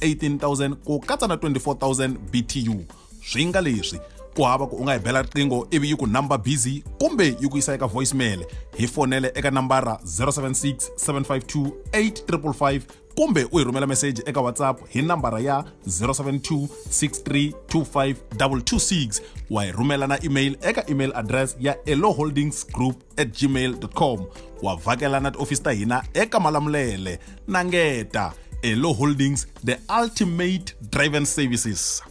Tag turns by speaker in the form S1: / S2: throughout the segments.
S1: 18000 ku katsa na 24000 btu swi nga leswi ku hava ku u nga hi bela riqingho ivi yi ku number busy kumbe yi ku yisa eka voicemail hi fonele eka nambara 076 752 8555 kumbe u hi rhumela meseji eka whatsapp hi nambara ya 072 6325 226 wa hi rhumela na email eka email address ya eloholdingsgroup at gmail.com wa vhakela na tiofisi ta hina eka malamulele na ngeta elo holdings the ultimate driven services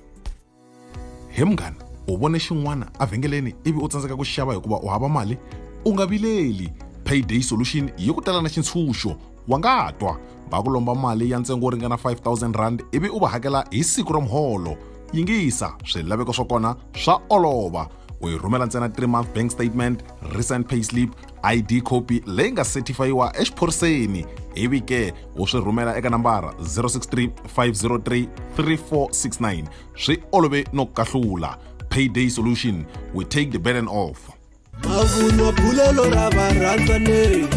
S1: he munghana u vone xin'wana evhengeleni ivi u tsandzeka ku xava hikuva u hava mali u nga vileli payday solution yi ku tala na xintshunxo wa nga twa va ku lomba mali ya ntsengo wo ringana 5000 rand ivi u va hakela hi siku ra muholo yingisa swilaveko swa kona swa olova u yi rhumela ntsena 3 month bank statement recent payslip id copy leyi nga certifayiwa exiphoriseni ivi ke u swi rhumela eka nambara 063 503 3469 swi olove no kahlula payday solution we take the burden off mavunwa bulelo ra varhandzaneri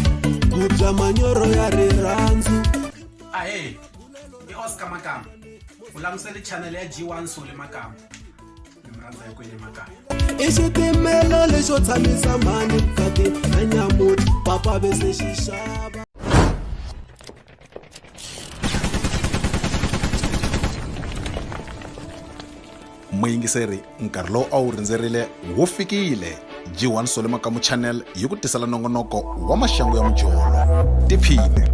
S1: ku bya manyoro ya rirhandzu ahe i oscar makamba u langusele chanele ya g1 sole makamba i xitimela lexo tshamisa mhani vukati na nyamuti papa ve se xi xava muyingiseri nkarhi lowu a wu rindzerile wu fikile jiwani swa le makamu channel yi ku tisela nongonoko wa maxangu ya mujolo tiphine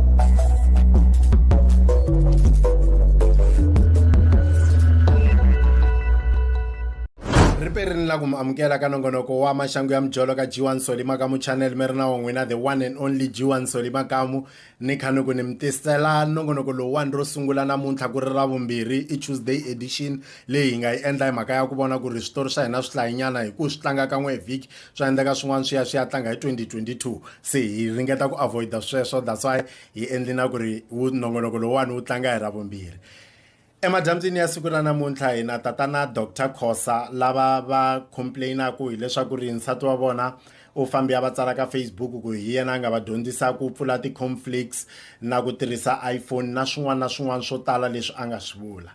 S1: ripe ri ni la ku mi amukela ka nongonoko wa maxangu ya mijolo ka g1 soli makamu channel mi ri na wa n'wina the one and only g1 soli makamu ni kha ni ku ni mi tisela nongonoko lowuwani ro sungula namuntlha ku ri ra vumbirhi i tuesday edition leyi hi nga yi endla hi mhaka ya ku vona ku ri switori swa hina swi hlayinyana hi ku swi tlanga kan'we hi vhiki swa endleka swin'wana swi ya swi ya tlanga hi 2022 se hi ringeta ku avoida sweswo that's why hi endli na ku ri wu nongonoko lowuwani wu tlanga hi ra vumbirhi Emadyambyini ya siku ra namuntlha hi na tatana Dr Khosa lava va complainaka hileswaku ri nsati wa vona u fambe a va tsala ka Facebook ku hi yena a nga va dyondzisa ku pfula ti-conflicts na ku tirhisa iPhone na swin'wana na swin'wana swo tala leswi a nga swi vula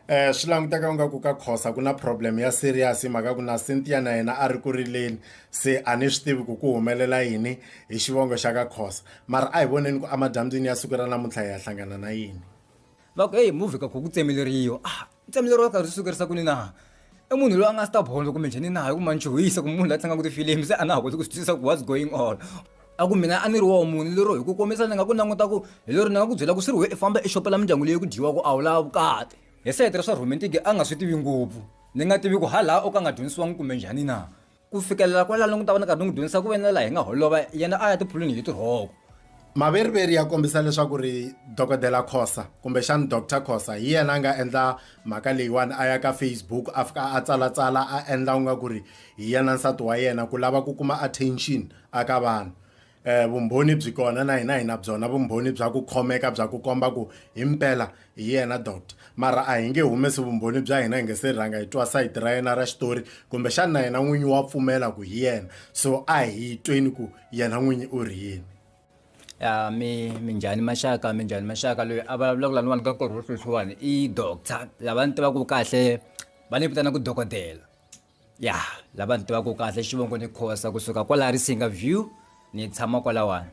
S1: eh swi languteka u nga ku ka khosa ku na problem ya serious mhaka ku na Cynthia na yena a ri ku rileni se a ni swi tivi ku ku humelela yini hi xivongo xa ka khosa mara a hi voneni ku amadyambyini ya siku ra namuntlha hi ya hlangana na yini va ku eyi movhi ka ku ku tsemeleriwa a tsemeleriwa karhi swi sukerisa kuni na i munhu loyi a nga stabolo kumbe njhani na hi ku manchuhisa ku munhu la tlangaka tifilimi se a na ha koti ku swi twisisa ku what's going on a ku mina a ni ri woho munhu lero hi ku kombisa ni nga ku languta ku hi lero ni nga ku byela ku swi ri we i famba i xopela mindyangu leyi ku dyiwa ku a wu lava vukati hi sehete ra swa romantic a nga swi tivi ngopfu ni nga tivi ku ha laha o ka nga dyondzisiwangi kumbe njhani na Ku fikelela kwalano ni ta va ni karhi ni n'wi dyondzisa ku ve na laha hi nga holova yena a ya tiphulwini hi tirhoko. Maveriveri ya kombisa leswaku ri Dokodela Khosa kumbexana Doctor Khosa hi yena a nga endla mhaka leyiwani a ya ka Facebook a fika a tsalatsala a endla u nga ku ri hi yena nsati wa yena ku lava ku kuma attention a ka vanhu. Eh, vumbhoni byi kona na hina hina byona vumbhoni bya ku khomeka bya ku komba ku hi mpela hi yena doctor mara a hi nge humesi vumbhoni bya hina hi nge se rhanga hi twa sayiti ra yena ra xitori kumbexani na yena n'winyi wa pfumela ku hi yena so a hi tweni ku yena n'winyi u ri yini ya mi minjhani maxaka minjhani maxaka loyi a vulavulaka lani wani ka nkarhi wo sweswiwani i doctor lava ni tivaka kahle va ni vitana ku dokodela ya lava ni tivaka kahle xivongo ni khosa kusuka kwala risinga view ni tshama kwalawani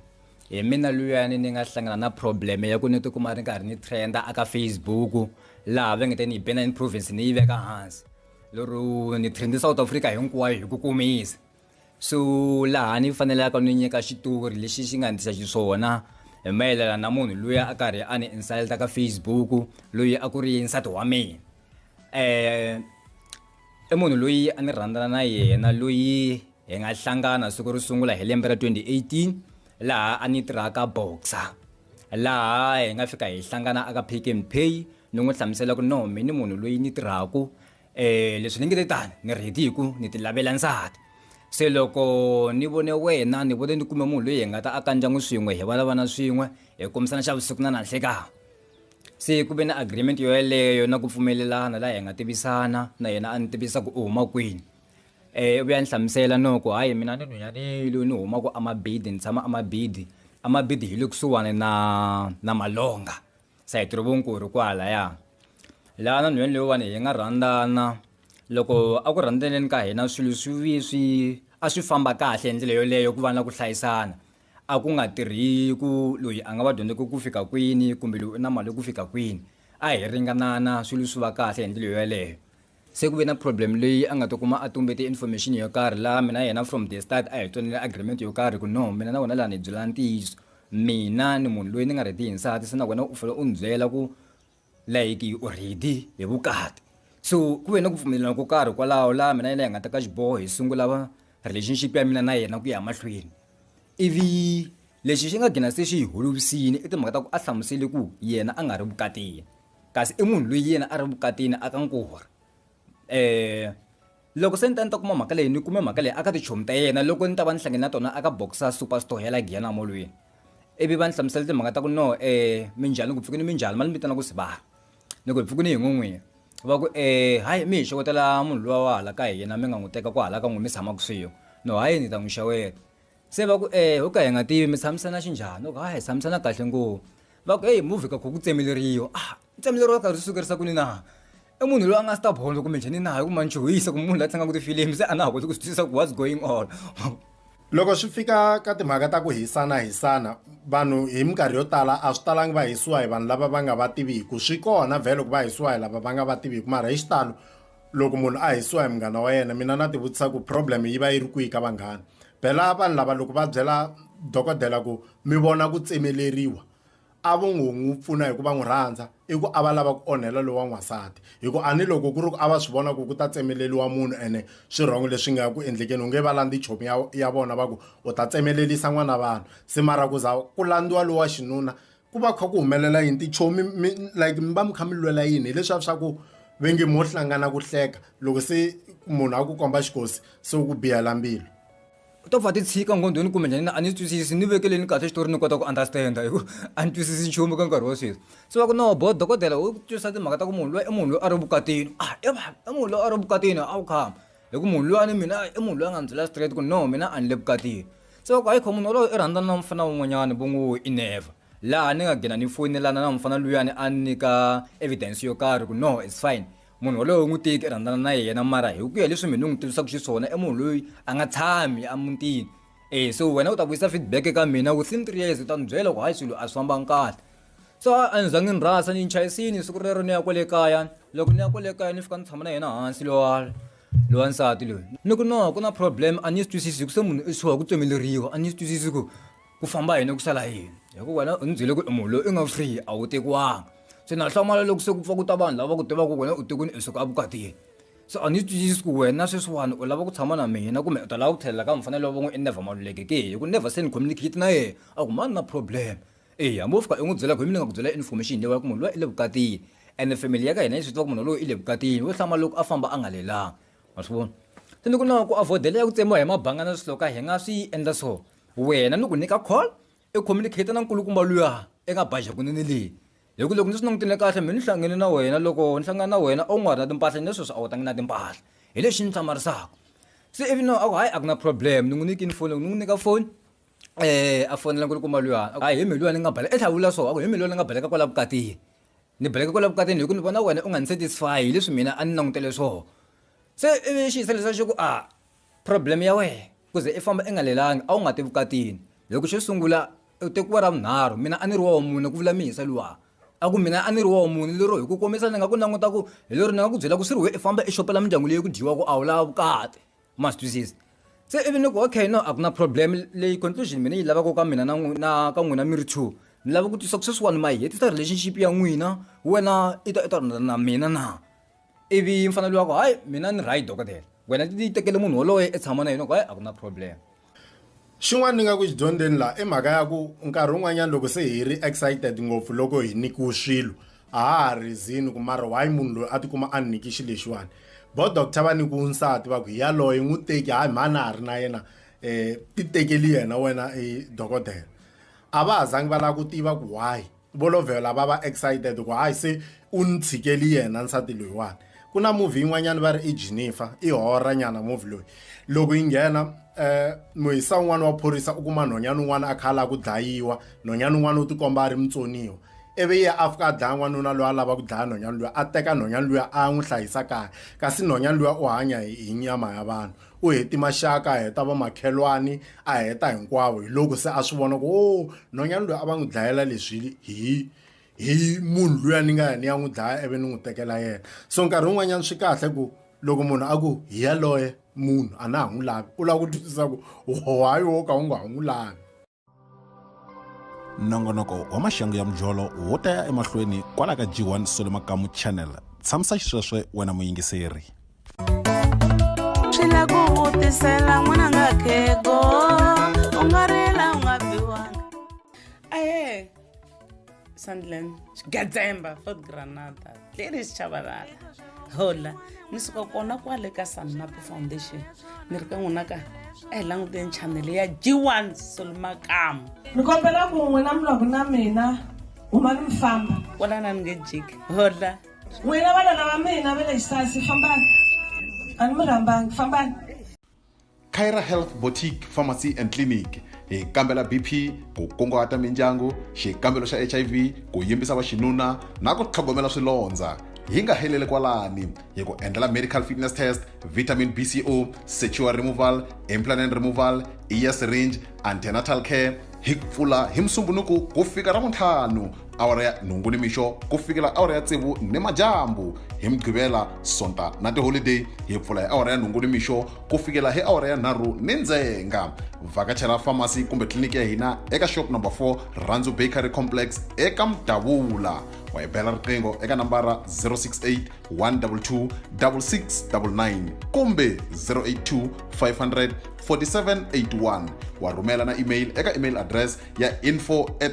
S1: hi mina luyani ni nga hlangana na problem ya ku ni tikuma ri karhi ni trenda aka facebook laha va nge te ni yi bena in province ni yi veka hansi lero ni trend south africa hinkwayo hi ku kumisa so laha ni fanelaka ni nyika xitori lexi xi nga ndisa xiswona hi mayelana na munhu loyi a karhi a ni insulta ka facebook loyi a ku ri nsati wa mina um I munhu loyi a ni rhandzana na yena loyi hi nga hlangana siku ro sungula hi lembe ra 2018 laha a ni tirhaka boxer laha hi nga fika hi hlangana aka pick and pay ni n'wi hlamusela ku no mi ni munhu loyi ni tirhaku um eh, leswi ni nge te tani ni ready hi ku ni ti lavela nsati se loko ni vone wena ni vone ni kume munhu loyi hi nga ta aka ndyangu swin'we hi va na vana swin'we hi kombisana xa vusiku na nanhlekanga se ku ve na agreement yo yeleyo na ku pfumelelana laha hi nga tivisana na yena a ni tivisa ku u huma kwini um u vuya ni hlamusela no ku hayi mina ni nhunyanile ni humaka amabidi ni tshama amabidi amabidi hi le kusuhani na na malonga sayiti ro vonkulu kwalaya laha na nhwanyana leyiwani hi nga rhandzana loko a ku rhandzaneni ka hina swilo swi swi a swi famba kahle hi ndlela yoleyo ku va na ku hlayisana a ku nga tirhi ku loyi a nga va dyondzeke ku fika kwini kumbe loyi u na mali ku fika kwini a hi ringanana swilo swi va kahle hi ndlela yoyeleyo se ku ve na problem leyi a nga ti kuma a tumbete information yo karhi laha mina yena from the start a hi twanile agreement yo karhi ku no mina na wena laha ni hi byelana ntiyiso mina ni munhu loyi ni nga ready hi nsati se na wena u fanele u ni byela ku like you already hi vukati so ku ve na ku pfumelelana ko karhi kwalaho laha mina yena hi nga ta ka xiboho hi sungula va relationship ya mina na yena ku ya mahlweni ivi lexi xi nga gina se xi hi holovisile i timhaka ta ku a hlamusele ku yena a nga ri vukatini kasi i munhu loyi yena a ri vukatini a ka nkora um loko se ni ta ni ta kuma mhaka leyi ni kume mhaka leyi aka tichomi ta yena loko ni ta va ni hlangene na tona aka boxa superstore ya la giyana molweni ivi va ni hlamusela timhaka ta ku no um minjhani ku pfukini minjhani ma ni vitana ku sibaha ni ku hi pfukini hi n'win'wini va ku um hayi mi hi xewetela munhu luwa wa hala ka hina mi nga n'wi teka ku hala ka n'wi mi tshama kusuhi no hayi ni ta n'wi xeweta se va ku e ho ka hi nga tivi mi tshamisana xinjhani oka hi tshamisana kahle ngopfu va ku eyi movhi ka ku ku tsemeleriwa a tsemeleriwa karhi swi sukerisa ku ni na i munhu loyi a nga stubborn kumbe njhani na hi ku manchuhisa ku munhu la tlangaka tifilimi se a na ha koti ku swi twisisa ku what's going on loko swi fika ka timhaka ta ku hisana hisana vanhu hi minkarhi yo tala a swi talangi va hisiwa hi vanhu lava va nga va tiviku swi kona vhele loko va hisiwa hi lava va nga va tiviku mara hi xitalo loko munhu a hisiwa hi munghana wa yena mina na tivutisa ku problem yi va yi ri kwihi ka vanghana phela vanhu lava loko va byela dokodela ku mi vona ku tsemeleriwa a vo ngo n'wi pfuna hi ku va n'wi rhandza i ku a va lava ku onhela lowa n'wansati hi ku a ni loko ku ri ku a va swi vona ku ku ta tsemeleriwa munhu ene swi rhongo leswi nga ku endlekeni u nge va landzi chomi ya ya vona va ku u ta tsemelelisa n'wana vanhu se mara ku za ku landziwa lowa xinuna ku va kha ku humelela yini tichomi mi like mi va mi kha mi lwela yini hileswiya swa ku ve nge mo hlangana ku hleka loko se munhu a ku komba xikosi se u ku biyela mbilu u ta pfa ti tshika nghondweni kumbe njhani a ni swi twisisi ni vekeleni kahle xitori ni kota ku understand-a hi ku a ni twisisi nchumu ka nkarhi wa sweswi se va ku no bo dokodela u twisisa timhaka ta ku munhu loyi i munhu loyi a ri vukatini a i va i munhu loyi a ri vukatini a wu khama hi ku munhu luyani mina i munhu loyi a nga ni byela straight ku no mina a ni le vukatini se va ku hayi kho munhu wolowo i rhandzana na mufana wun'wanyana vo ngo i never laha ni nga gina ni foyinelana na mufana luyani a ni nyika evidence yo karhi ku no it's fine munhu wolowo u n'wi tiki i rhandzana na yena mara hi ku ya leswi mina ni n'wi tivisaka xiswona i munhu loyi a nga tshami emutini e so wena u ta vuyisa feedback eka mina within three years u ta ni byela ku hayi swilo a swi fambanga kahle so a ni zangi ni rhasa ni chayisini siku rero ni ya kwale kaya loko ni ya kwale kaya ni fika ni tshama na yena hansi lowa lowa nsati loyi ni ku no ku na problem a ni swi twisisi hi ku se munhu i swiwa ku tsemeleriwa a ni swi twisisi ku ku famba yini ku sala yini hikuva wena u ni byele ku i munhu loyi i nga free a wu tekiwanga se na hlamala loko se ku pfa ku ta vanhu lava ku tivaka ku wena u tekuni i suka evukatini so a ni swi twisisi ku wena sweswiwani u lava ku tshama na mina kumbe u ta lava ku tlhelela ka mfanelo wa van'we i never maluleke ke hi ku never se ni communicate na yena a ku mani na problem eya mo fika i n'wi byela ku hi mina ni nga ku byela information leyi ku munhu loyi i le vukatini ene family ya ka hina yi swi tiva ku munhu loyi i le vukatini wo hlama loko a famba a nga lelanga ma swi vona se ni ku na ku avoidela ya ku tsemiwa hi mabanga na swihloka hi nga swi endla so wena ni ku nyika call i communicate na nkulukumba luya eka baja kunene leyi hi ku loko ni swi langutile kahle mina ni hlangane na wena loko ni hlangana na wena a wu nga ri na timpahla ni sweswi a wu tangi na timpahla hi lexi ni hlamarisaka se ivi no a ku hayi a ku na problem ni n'wi nyikini foni loko ni n'wi nyika foni e a fonela ku ri kuma luyani a hi mi luyani ni nga baleka i tlhela vula so a ku hi mi luyani ni nga baleka kwala vukatini ni baleka kwala vukatini hi ku ni vona wena u nga ni satisfy hi leswi mina a ni langutele swoho se ivi xi hisa lexi xi ku a problem ya wena ku ze i famba i nga lelangi a wu nga ti vukatini hi ku xo sungula u tekiwa ra vunharhu mina a ni ri wa wa mune ku vula mihisa luwa a ku mina a ni ri wa wa mune lero hi ku komisa ni nga ku languta ku hi lero ni nga ku byela ku swi ri why i famba i xopela mindyangu leyi ku dyiwaka a wu lava vukati. ma swi twisisa se ivi ni ku okay no a ku na problem leyi conclusion mina yi lavaka ka mina na n'wi- na ka n'wina mi ri two ni lava ku twisisa ku sweswiwani ma yi hetisa relationship ya n'wina wena i ta i ta rhandza na mina na ivi mfanelo wa ku hayi mina ni right dokodela wena ti tekele munhu woloye i tshama na yena ku hayi a ku na problem Xin'wana ni nga ku xi dyondzeni laha i mhaka ya ku nkarhi wun'wanyana loko se hi ri excited ngopfu loko hi nyikiwe swilo a ha ha reason-i ku mara why munhu loyi a tikuma a ni nyike xilo lexiwani vo doctor va nyikiwe nsati va ku hi yaloye n'wi teki hayi mhani a ha ri na yena um ti tekeli yena wena i dokodela a va ha zangi va lava ku tiva ku why. vo lovhela va va excited ku hayi se u ni tshikeli yena nsati loyiwani ku na movie yin'wanyana va ri i jennifer i horra nyana movie loyi loko yi nghena um muhisa un'wana wa phorisa u kuma nhonyana un'wana a kha a lava ku dlayiwa nhonyana un'wana u tikomba a ri mutsoniwa ivi ye a fika a dlaya n'wanuna loyi a lava ku dlaya nhonyana luya a teka nhonyana luya a n'wi hlayisa kaya kasi nhonyana luya u hanya hi nyama ya vanhu u heti maxaka a heta vamakhelwani a heta hinkwavo hi loko se a swi vona ku o nhwanyana loyi a va n'wi dlayela leswi hi hi munhu luya ni nga ya ni ya n'wi dlaya ivi ni n'wi tekela yena so nkarhi wun'wanyana swi kahle ku loko munhu a ku hi yaloye munhu a na ha n'wi lavi u lava ku twisisa ku why wo ka u nga ha n'wi lavi nongonoko wa maxangu ya mujolo wo ta ya emahlweni kwala ka g1 solo makamu channel tshamisa xisweswe wena muyingiseri swi la ku vutisela n'wananga khego u nga rila u nga biwanga ahe sandland xigadzemba fort granada tleri xichavalala hola ni suka kona kwale ka sannapo foundation ni ri ka n'wina ka a hi languteni chanele ya g1 solomakamu ni kombela ku n'wina mi lwaku na mina huma ni mi famba kwalana ni nge jiki hola n'wina vanana va mina va le xisasi fambani a ni mi rhambangi fambani Kyra Health Boutique Pharmacy and Clinic hi kambela BP ku kunguhata mindyangu xikambelo xa HIV ku yimbisa vaxinuna na ku tlhogomela swilondza hi nga heleli kwalani hi ku endlela medical fitness test vitamin bco secure removal implanent removal ear syringe antenatal care hi pfula hi musumbunuku ku fika ra muntlhanu awara ya nhungu ni mixo ku fikela awara ya tsevu ni madyambu hi mugqivela sonta na tiholideyi hi pfula hi awara ya nhungu ni mixo ku fikela hi awara ya nharhu ni ndzenga vhakachela famasi kumbe tliliniki ya hina eka shop number 4 randzu bakery complex eka mudavula wa hi bela riqingho eka nambara 068 122 6699 kumbe 082 500 4781 wa rhumela na email eka email address ya info at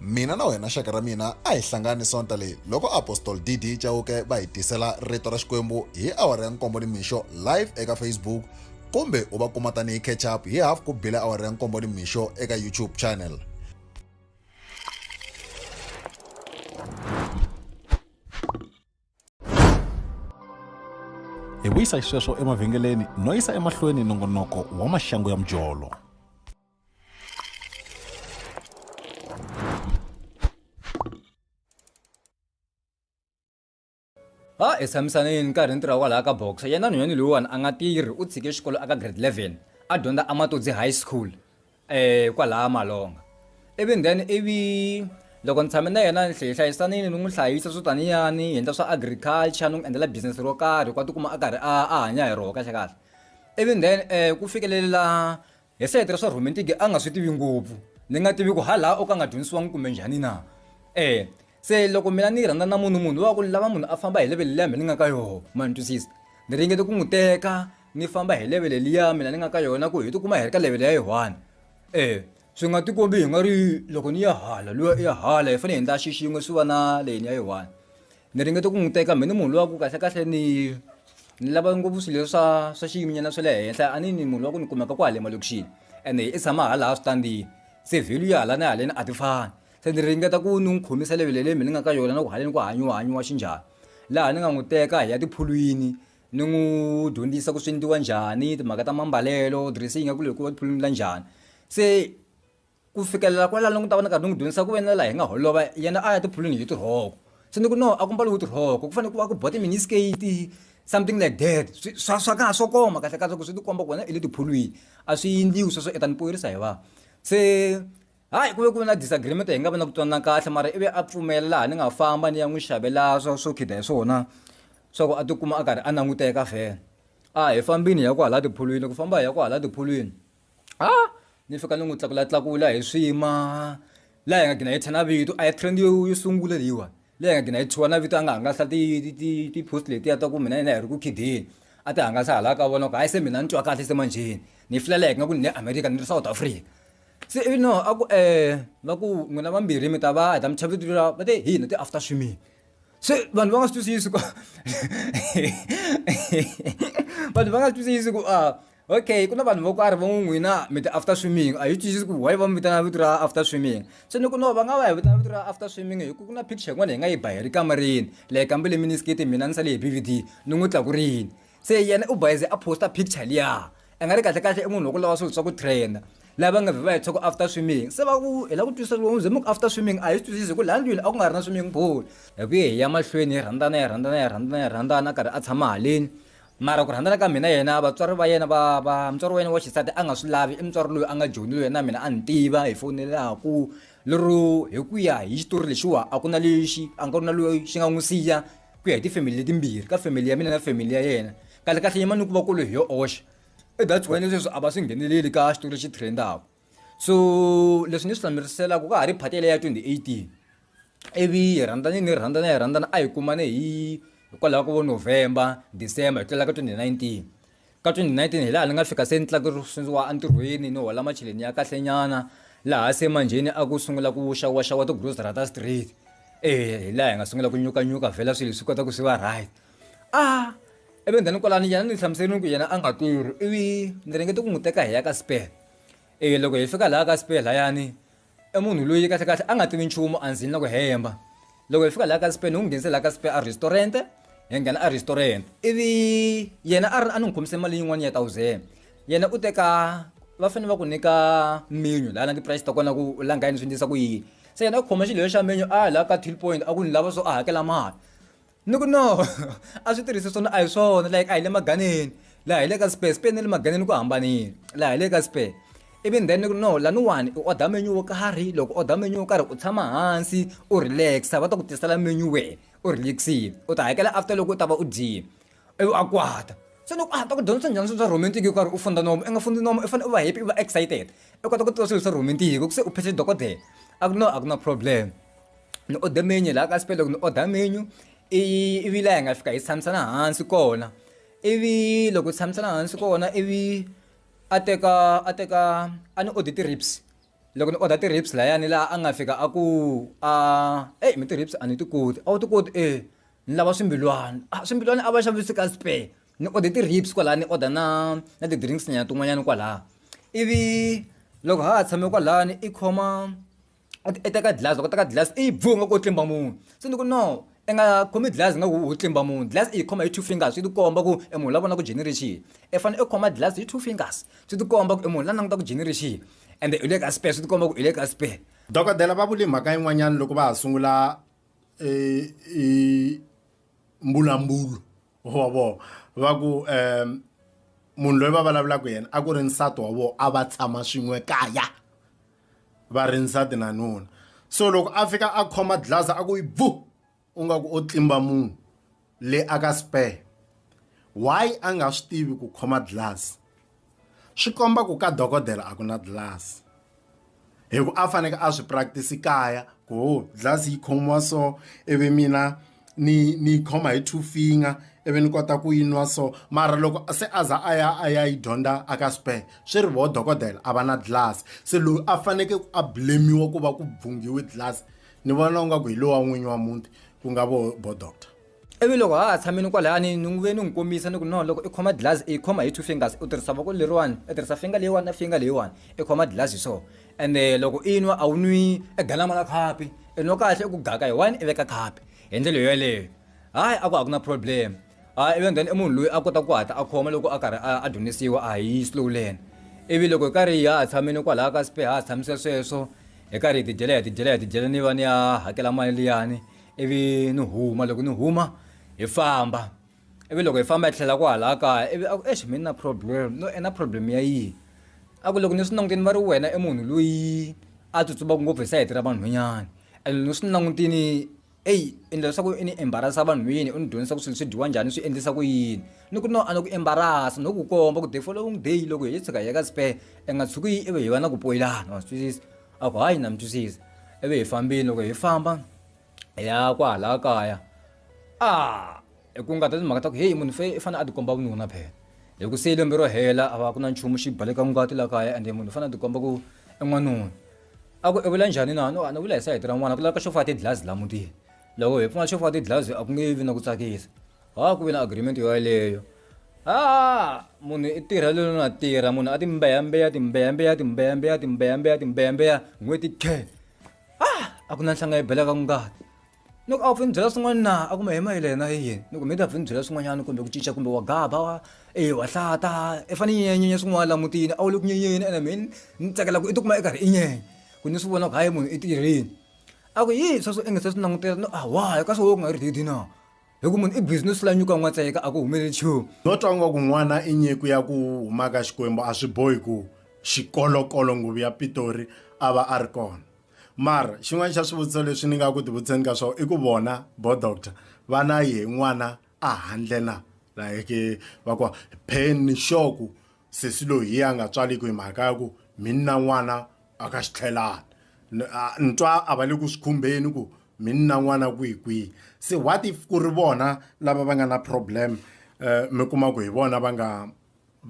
S1: mina na wena xaka ra mina a hi hlangani sonta leyi loko apostol dd chauke va hi tisela rito ra xikwembu hi awara ya nkombo ni mixo live eka facebook kumbe u va kuma tanihi catch up hi half ku bile awara ya nkombo ni mixo eka youtube channel hi vuyisa xisweswo emavhengeleni no yisa emahlweni nongonoko wa maxangu ya mujolo ha hi tshamisane yini nkarhi ni tirha kwalaha ka boxa yena nhwanyani loyiwani a nga tirhi u tshike xikolo aka grade 11 a dyondza amatodzi high school eh kwalaya malonga ivi then ivi loko ni tshame na yena ni hleye hlayisanini ni n'wi hlayisa swo taniyani hi endla swa agriculture ni n'wi endlela business ro karhi ku a tikuma a karhi a a hanya hi roho kahle kahle ivi then um ku fikelela hi sayiti ra swa romantic a nga swi tivi ngopfu ni nga tivi ku ha laha o ka nga dyondzisiwangi kumbe njhani na um Se loko mina ni rhandza na munhu munhu wa ku lava munhu a famba hi level liya me ni nga ka yoho ma ni twisisa ni ringete ku n'wi teka ni famba hi level liya mina ni nga ka yona ku hi tikuma hi ri ka level ya yi one e swi nga tikombi hi nga ri loko ni ya hala luya i ya hala hi fanele hi endla xixin'we swi va na leyini ya yi one ni ringete ku n'wi teka me ni munhu luya ku kahle kahle ni ni lava ngopfu swilo leswi swa swa xiyiminyana swa le henhla a ni ni munhu wa ku ni kumeka kwale malokixini ene i tshama halaha switandini se value ya hala na haleni a ti fani Se ni ringeta ku ni n'wi khomisa levhele leyi mi ni nga ka yona na ku haleni ku hanyiwa hanyiwa xinjhani laha ni nga n'wi teka hi ya tiphulwini ni n'wi dyondzisa ku swi endliwa njhani timhaka ta mambalelo dress yi nga ku loko va tiphulwini la njhani se ku fikelela kwalano ni ta va ni karhi ni n'wi dyondzisa ku ve na laha hi nga holova yena a ya tiphulwini hi tirhoko se ni ku no a ku mbaliwi tirhoko ku fanele ku va ku ba ti-mini skirt something like that swi swa swa ka ha swo koma kahlekahle ku swi ti komba ku wena i le tiphulwini a swi endliwi sweswo i ta ni hi vanhu se. Hayi ku ve ku ve na disagreement hi nga vi na ku twanana kahle mara ivi a pfumela laha ni nga famba ni ya n'wi xavela swa swo khida hi swona swa ku a tikuma a karhi a languteka vhele a hi fambini hi ya ku hala tiphulwini ku famba hi ya ku hala tiphulwini a ni fika ni n'wi tlakula tlakula hi swima laha hi nga gina hi thya na vito a hi trend yo yo sungula leyiwa leyi hi nga gina hi thyiwa na vito a nga hangalasa ti ti ti ti-post letiya ta ku mina yena hi ri ku khideni a ti hangalasa hala ka vona ku hayi se mina ni twa kahle se manjheni ni yi filela hi nga ku ni le america ni ri south africa Se ivi no a ku va ku n'wina vambirhi mi ta va heta mi chava vito ra va te hina ti after swimming se vanhu va nga swi twisisi ku vanhu va nga swi twisisi ku a okay ku na vanhu vo karhi vo ngo n'wina mi ti after swimming a hi twisisi ku why va mi vitana vito ra after swimming se ni ku no va nga va hi vitana vito ra after swimming hi ku ku na picture yin'wana hi nga yi ba hi ri kamareni leyi kambe le mini skirt mina ni sale hi ni n'wi tlakurile. se yena u bayize a posta picture liya a nga ri kahle kahle i munhu wa ku lava swilo swa ku trainer lava nga va hetshaka after swimming se va ku hi la ku twisisa loko ze muku after swimming a hi swi twisisi hi ku laha ndlwini a ku nga ri na swimming pool hi ku hi ya mahlweni hi rhandzana hi rhandzana hi rhandzana hi rhandzana a karhi a tshama haleni mara ku rhandzana ka mina yena vatswari va yena va va mutswari wa yena wa xisati a nga swi lavi i mutswari loyi a nga joni loyi na mina a ni tiva hi fonelaku lero hi ku ya hi xitori lexiwa a ku na lexi a nga ku na loyi xi nga n'wi siya ku ya hi tifamily letimbirhi ka family ya mina na family ya yena kahle kahle yimani ku va ku ri hi yo oxa i that's why leswi a va swi ngheneleli ka xitori lexi trendaka so leswi ni swi hlamuseriselaka ka ha ri phati leya 2018 ivi hi rhandzane ni rhandzana hi rhandzana a hi kumane hi hikwalaho ka vo november december hi tlela ka 2019 Ka 2019 hi laha ni nga fika se ni tlakusiwa entirhweni ni hola macheleni ya kahlenyana laha se manjheni a ku sungula ku xawaxawa tigrosara ta straight e hi laha hi nga sungula ku nyukanyuka vhela swilo swi kota ku swi va right a ivi then kwalano yena ni hlamuserile ku yena a nga tirhi ivi ni ringete ku n'wi teka hi ya ka spare e loko hi fika laha ka spare layani i munhu loyi kahlekahle a nga tivi nchumu a ndzini na ku hemba loko hi fika laha ka spain hi n'wi nghenise laha ka spain a restaurant hi nghena a restaurant ivi yena a ri a ni n'wi khomise mali yin'wana ya thousand yena u teka va fanele va ku nyika menu laha na ti-price ta kona ku u langa yini swi endlisa ku yini se yena a khoma xilo lexa menu a ya laha ka till point a ku ni lava so a hakela mali Ni ku no a swi tirhisi swona a hi swona like a hi le maganeni laha hi le ka spare spare ni le maganeni ku hambanile laha hi le ka spare ivi then ni ku no laniwani u order menu wo karhi loko u order menu wo karhi u tshama hansi u relax-a va ta ku tisela menu wehe u relax-ile u ta hakela after loko u ta va u dyile ivi a kwata se loko a ta ku dyondzisa njhani swilo swa romantic yo karhi u funda nomo i nga fundi nomo i fanele u va happy u va excited i kota ku tiva swilo swa romantic ku se u phese dokodela a ku no a ku na problem. ni order menu laha ka spell loko ni order menu ivi laha hi nga fika hi tshamisana hansi kona ivi loko hi tshamisana hansi kona ivi a teka a teka a ni order ti-rips loko ni order ti-rips layani laha a nga fika a ku a eyi mi ti-rips a ni ti koti a wu ti koti e ni lava swimbilwana a swimbilwana a va xavisi ka spare ni order ti-rips kwalaha ni order na na ti-drinks nyana tin'wanyana kwalaha ivi loko ha ha tshame kwalani i khoma i teka dlaz loko u teka dlaz i yi bvuu ingaku u tlimba munhu se ni ku no i nga khomi dlaz ingaku u tlimba munhu dlaz i yi khoma hi two fingers swi tikomba ku i munhu la vona ku dyini ri xini i fane i khoma dlaz hi two fingers swi tikomba ku i munhu la languta ku dyini ri xini ende u le ka spare swi tikomba ku i le ka spare dokodela va vule mhaka yin'wanyana loko va ha sungula mbulambulo wa vona va ku um munhu loyi va vulavulaka yena a ku ri nsati wa vona a va tshama swin'we kaya va ri nsati na nuna so loko a fika a khoma dlasa a ku yi bvu u nga ku o tlimba munhu le a ka spare why a nga swi tivi ku khoma dlasi swi komba ku ka dokodela a ku na dlasi hi ku a faneke a swi practice kaya ku dlasi yi khomiwa so ivi mina ni ni yi khoma hi two finger ivi ni kota ku yi nwa so mara loko se a za a ya a ya yi dyondza a ka spare swi ri voho dokodela a va na dlilasi se loyi a fanekele a blame-iwa ku va ku bvungiwe dlilasi ni vona ingaku hi lowa n'winyi wa muti ku nga vo bo doctor ivi loko ha ha tshamini kwalani ni n'wi ve ni n'wi kombisa ni ku no loko i khoma dlilasi i khoma hi two fingers u tirhisa voko leriwani i tirhisa finga leyiwani na finga leyiwani i khoma dlilasi hi swona ende loko i nwa a wu nwi e galama ra khapi i nwa kahle i ku gaka hi one i veka khapi hi ndlela yo yeleyo hayi a ku a ku na problem a ivi then i munhu loyi a kota ku hatla a khoma loko a karhi a dyondzisiwa a hi slow learn ivi loko hi karhi hi ha tshamile kwalaho ka spe ha ha tshamise sweswo hi karhi hi tidyela hi tidyela hi tidyela ni va ni ya hakela mali liyani ivi ni huma loko ni huma hi famba ivi loko hi famba hi tlhela ku hala kaya ivi a ku exi mi na problem no i na problem ya yini a ku loko ni swi langutini va ri wena i munhu loyi a tsutsumaka ngopfu hi sayiti ra vanhwanyana and loko ni swi langutini eyi endla leswaku i ni embarasa vanhwini u ni dyondzisa ku swilo swi dyiwa njhani swi endlisa ku yini ni ku no a ni ku embarasa no ku komba ku the following day loko hi yi tshuka hi ya ka spare i nga tshuki ivi hi va na ku poyilana wa swi twisisa a ku hayi na mi twisisa ivi hi fambile loko hi famba ya kwahala kaya a hi ku nga ta timhaka ta ku heyi munhu fe i fanele a tikomba vununa phela hi ku se lembe ro hela a va ku na nchumu xi baleka ngati la kaya ende munhu u fanele a tikomba ku i n'wanuna a ku i vula njhani na no a ni vula hi sayiti ra n'wana ku laveka xo faka tidlazi la mutini loko hi pfumala xo faka tidlazi a ku nge vi na ku tsakisa ha ku vi na agreement yoyaleyo ha munhu i tirha lelo na tirha munhu a timbeyambeya timbeyambeya timbeyambeya timbeyambeya timbeyambeya n'hweti khe ah a ku na nhlanga yi belaka ku nga loko a wu pfuni byela swin'wana na a kuma hi mayile yena hi yini loko mi ta pfuni byela swin'wanyana kumbe ku cinca kumbe wa gaba wa e wa hlata i fane nyenyenye swin'wana la mutini a wu le ku nyenyeni ene mi ni tsakela ku i tikuma i karhi i nyenya ku ni swi vona ku hayi munhu i tirhini a ku yi sweswo i nge se swi langutela no a why ka swo wo ku nga ri didi na hi ku munhu i busy no sula nyuka n'watseka a ku humeleli nchumu no twa nga ku n'wana i nyiku ya ku huma ka xikwembu a swi bohi ku xikolokolo nguvu ya pitori a va a ri kona mara xin'wana xa swivutiso leswi ni nga ku tivutiseni ka swona i ku vona bo doctor va na ye n'wana a handle na like va ku pheni xoku sesi loyi a nga tswaliki hi mhaka ya ku mini na n'wana a ka xi tlhelani N- a- ni twa a va le ku swi khumbeni ku mi ni na n'wana kwihi kwihi se what if ku ri vona lava va nga na problem um mi kuma ku hi vona va nga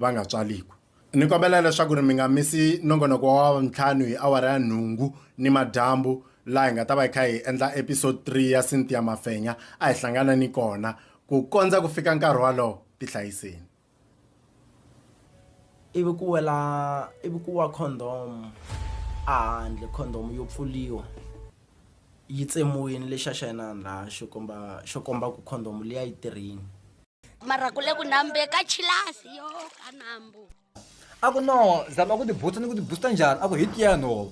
S1: va nga tswaliku ni kombela leswaku ri mi nga misi nongonoko wa ntlhanu hi awara ya nhungu ni madyambu laha hi nga ta va hi kha hi endla episode 3 ya cynthia mafenya a hi hlangana ni kona ku kondza ku fika nkarhi walowo tihlayiseni ivi ku wela ivi ku wa condom a handle condom yo pfuliwa yi tsemiwini lexi xa yena laha xo komba xo komba ku condom leyi a yi tirhini mara ku le ku nambe ka chilasi yo ka nambu a ku no zama ku tibutsa ni ku tibutsa njhani a ku hi tiya nhova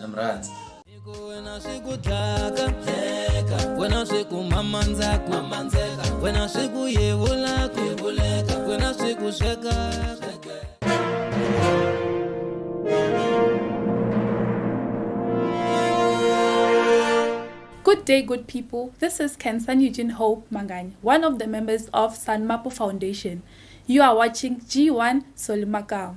S1: na mi rhandza wena swi ku dlaka dleka wena swi ku mamandzaku mamandeka wena swi ku yevulaku yevuleka wena swi ku sweka Good day, good people. This is Kensan Eugene Hope Mangani, one of the members of Sanmapo Foundation. You are watching G1 Solimakao.